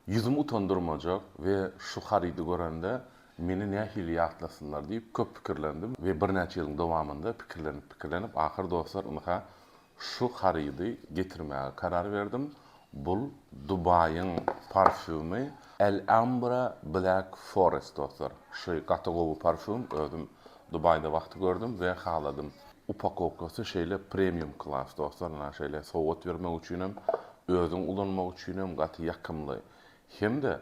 Ýüzümi utandyrmajak we şu harydy görende meni nähili ýatlasynlar diýip köp pikirlendim we birnäçe ýylyň dowamynda pikirlenip-pikirlenip ahyr dostlar ynha şu harydy getirmäge karar berdim, bul Dubaýyň parfýumy Alhambra Black Forest dostlar. Şu gaty gowy parfýum, özüm Dubaýda wagty gördüm we haladym. Upakowkasy şeýle premium klass dostlar na şeýle sowgat bermek üçinem özüň ulanmak üçinem gaty ýakymly. Hemde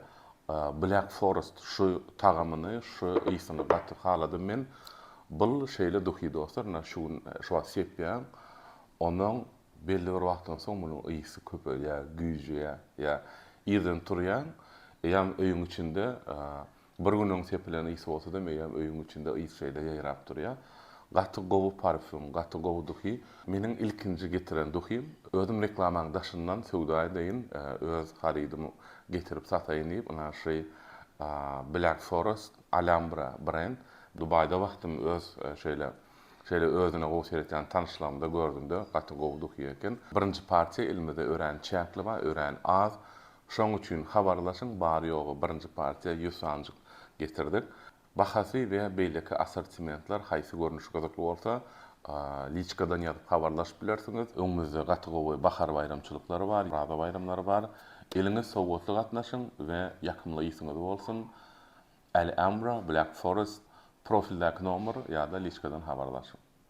black forest şu tagamyny şu ysyny gaty haladym men bul şeýle duhy dostlar na şu gün şu wagt sepýäň ondan belli bir wagtdan soň munuň ysy köpelýä güýjüýä ýa irden turýaň eýýam öýüň içinde Bir gün öň sepilen ys bolsa-da meýem öýüň içinde ys şeýle ýaýrap durýar. Gaty gowy parfýum, gaty gowy duhy. Meniň ilkinji getiren duhym. Özüm reklamaň daşyndan söwda edeýin, öz harydymy getirip sataýyn diýip, naşy Black Forest, Alhambra brend. Dubaýda wagtym öz şeýle şeýle özüne gowy seretýän tanyşlarymda gördümde gaty gowy duhy eken. Birinji partiýa elimize örän çäkli bar, örän az. Şoň üçin habarlaşyň bary-ýogy birinji partiýa ýüz sanjyk getirdik. Bahasy we beýleki assortimentler haýsy görnüş gyzykly bolsa, liçkadan ýazyp habarlaşyp bilersiňiz. Öňümizde gaty gowy bahar baýramçylyklary bar, Oraza baýramlary bar. Eliňiz sowgatly gatnaşyň we ýakymly ysyňyz bolsun! Alhambra, Black Forest, profildäki nomer ýa-da liçkadan habarlaşyň.